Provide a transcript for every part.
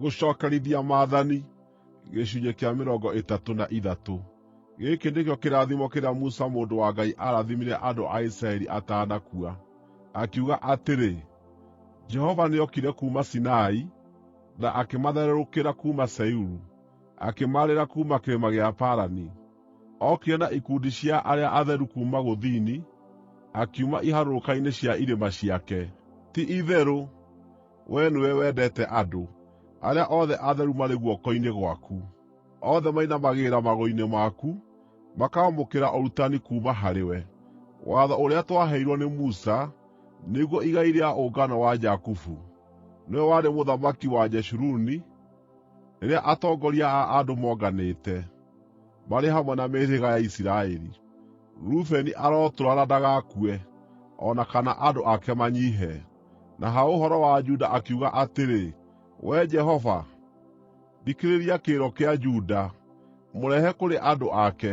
Gũcookerithia Maathani gĩcunjĩ kĩa mĩrongo ĩtatũ na ithatũ Gĩkĩ nĩkĩo kĩrathimo kĩrĩa Musa mũndũ wa Ngai aarathimire andũ a Isiraeli atanakua, akiuga atĩrĩ: “Jehova nĩokire kuuma Sinai, na akĩmathererũkĩra kuuma Seiru, akĩmaarĩra kuuma kĩrĩma gĩa Parani. Ookire na ikundi cia arĩa atheru kuuma gũthini, akiuma iharũrũka-inĩ cia irĩma ciake. Ti-itherũ Wee nĩwe wendete andũ; arĩa othe atheru marĩ guoko-inĩ gwaku. Othe mainamagĩrĩra magũrũ-inĩ maku, makaamũkĩra ũrutani kuuma harĩwe, watho ũrĩa twaheirwo nĩ Musa, nĩguo igai rĩa ũngano wa Jakubu. Nĩwe warĩ mũthamaki wa Jeshuruni, rĩrĩa atongoria a andũ monganĩte, marĩ hamwe na mĩhĩrĩga ya Isiraeli. Rubeni arotũũra na ndagakue, o na kana andũ ake manyiihe. Na ha ũhoro wa Juda akiuga atĩrĩ: “Wee Jehova, thikĩrĩria kĩrĩro kĩa Juda; mũrehe kũrĩ andũ ake.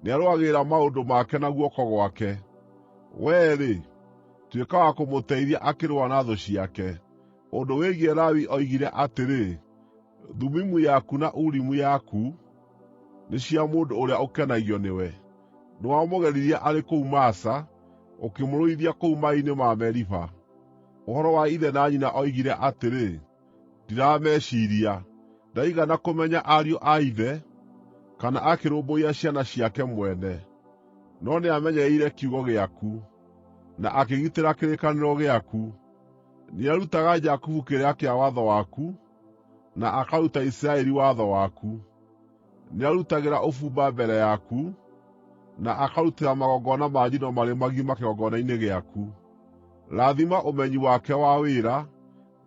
Nĩarũagĩrĩra maũndũ make na guoko gwake; wee-rĩ, tuĩka wa kũmũteithia akĩrũa na thũ ciake.” Ũndũ wĩgiĩ Lawi oigire atĩrĩ: Thumimu yaku na Urimu yaku nĩ cia mũndũ ũrĩa ũkenagio nĩwe. Nĩwamũgeririe arĩ kũu Masa, ũkĩmũrũithia kũu maaĩ-inĩ ma Meriba. Ũhoro wa ithe na nyina oigire atĩrĩ, ‘Ndirameciiria.’ Ndaigana kũmenya ariũ a ithe, kana akĩrũmbũiya ciana ciake mwene. No nĩamenyereire kiugo gĩaku, na akĩgitĩra kĩrĩkanĩro gĩaku; nĩarutaga Jakubu kĩrĩra kĩa watho waku. na akaruta Isiraeli watho waku. Nĩarutagĩra ũbumba mbere yaku, na akarutĩra magongona ma njino marĩ magima kĩgongona-inĩ gĩaku. Rathima ũmenyi wake wa wĩra,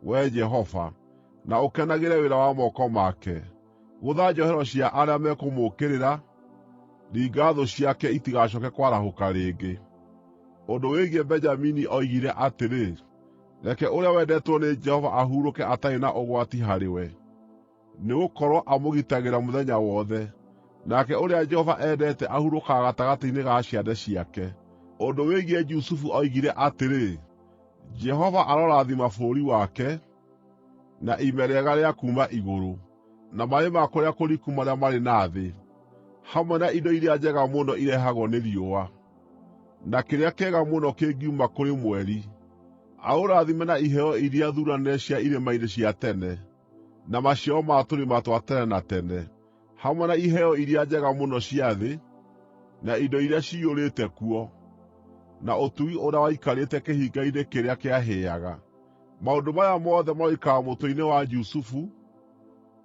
Wee Jehova, na ũkenagĩre wĩra wa moko make. Gũtha njohero cia arĩa mekũmũũkĩrĩra; ringa thũ ciake itigacooke kwarahũka rĩngĩ. Ũndũ wĩgiĩ Benjamini oigire atĩrĩ: Reke ũrĩa wendetwo nĩ Jehova ahurũke atarĩ na ũgwati harĩ we, nĩgũkorwo amũgitagĩra mũthenya wothe, nake ũrĩa Jehova endete ahurũkaga gatagatĩ-inĩ ga ciande ciake. Ũndũ wĩgiĩ Jusufu oigire atĩrĩ: “Jehova arorathima bũrũri wake, na ime rĩega rĩa kuuma igũrũ, na maaĩ ma kũrĩa kũriku marĩa marĩ na thĩ, hamwe na indo iria njega mũno irehagwo nĩ riũa.” Na kĩrĩa kĩega mũno kĩngiuma kũrĩ mweri, aũrathime na iheo iria thuuranĩre cia irĩma-inĩ cia tene, na maciaro ma tũrĩma twa tene na tene, hamwe na iheo iria njega mũno cia thĩ, na indo iria ciyũrĩte kuo, na ũtugi ũrĩa waikarĩte kĩhinga-inĩ kĩrĩa kĩahĩaga. Maũndũ maya mothe maroikara mũtwe-inĩ wa Jusufu,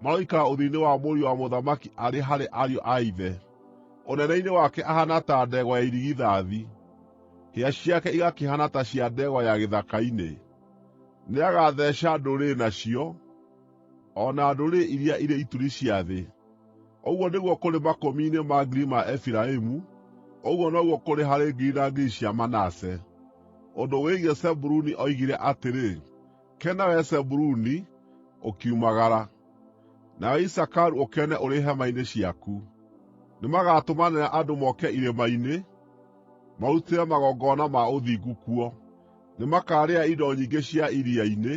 Maroikara ũthiũ-inĩ wa mũriũ wa mũthamaki arĩ harĩ ariũ a ithe; ũnene-inĩ wake ahaana ta ndegwa ya irigithathi, hĩa ciake igakĩhaana ta cia ndegwa ya gĩthaka-inĩ. Nĩagatheeca ndũrĩrĩ nacio, o na ndũrĩrĩ iria irĩ ituri cia thĩ. Ũguo nĩguo kũrĩ makũmi-inĩ ma ngiri ma Efiraimu, ũguo noguo kũrĩ harĩ ngiri na ngiri cia Manase.” Ũndũ wĩgiĩ Zebuluni oigire atĩrĩ: Kena wee Zebuluni, ũkiumagara; nawe Isakaru ũkene ũrĩ hema-inĩ ciaku. Nĩmagatũmanĩra andũ moke irĩma-inĩ, marutĩre magongona ma ũthingu kuo. Nĩmakaarĩa indo nyingĩ cia iria-inĩ,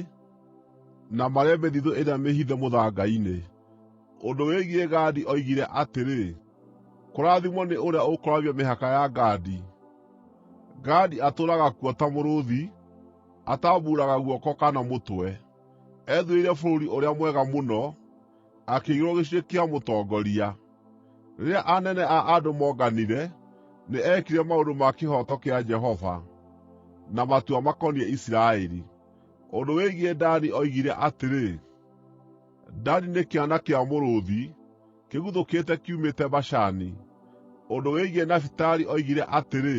na marĩe mĩthithũ ĩrĩa mĩhithe mũthanga-inĩ. Ũndũ wĩgiĩ Gadi oigire atĩrĩ: “Kũrathimwo nĩ ũrĩa ũkũrũgamia mĩhaka ya Gadi; Gadi atũũraga kuo ta mũrũũthi.” atambuuraga guoko kana mũtwe. Ethuurĩire bũrũri ũrĩa mwega mũno, akĩigĩrwo gĩcunjĩ kĩa mũtongoria. Rĩrĩa anene a andũ moonganire, nĩ eekire maũndũ ma kĩhooto kĩa Jehova, na matua makoniĩ Isiraeli. Ũndũ wĩgiĩ Dani oigire atĩrĩ: “Dani nĩ kĩana kĩa mũrũũthi, kĩguthũkĩte kiumĩte Bashani.” Ũndũ wĩgiĩ Nafitali oigire atĩrĩ: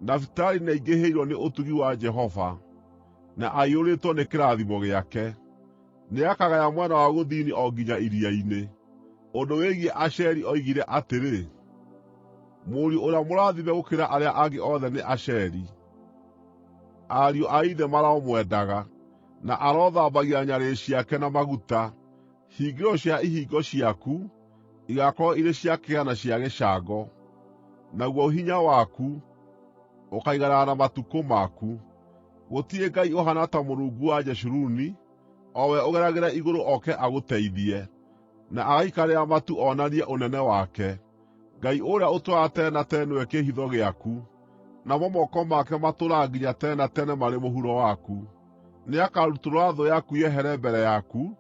Nafitali nĩaingĩhĩirwo nĩ ũtugi wa Jehova, na aiyũrĩtwo nĩ kĩrathimo gĩake. Nĩakagaya mwena wa gũthini o nginya iria-inĩ.” Ũndũ wĩgiĩ Asheri oigire atĩrĩ: “Mũriũ ũrĩa mũrathime gũkĩra arĩa angĩ othe nĩ Asheri; ariũ a ithe maromwendaga, na arothambagia nyarĩrĩ ciake na maguta.” Hingĩro cia ihingo ciaku igaakorwo irĩ cia kĩgera na cia gĩcango, naguo hinya waku ũkaiganana na matukũ maku. Gũtirĩ ngai ũhaana ta Mũrungu wa Jeshuruni, o we ũgeragĩra igũrũ oke agũteithie, na agaikarĩra matu onanie ũnene wake. Ngai ũrĩa ũtũũraga tene na tene nĩwe kĩĩhitho gĩaku, namo moko make matũũraga nginya tene na tene marĩ mũhuro waku. Nĩakarutũrũra thũ yaku yehere mbere yaku,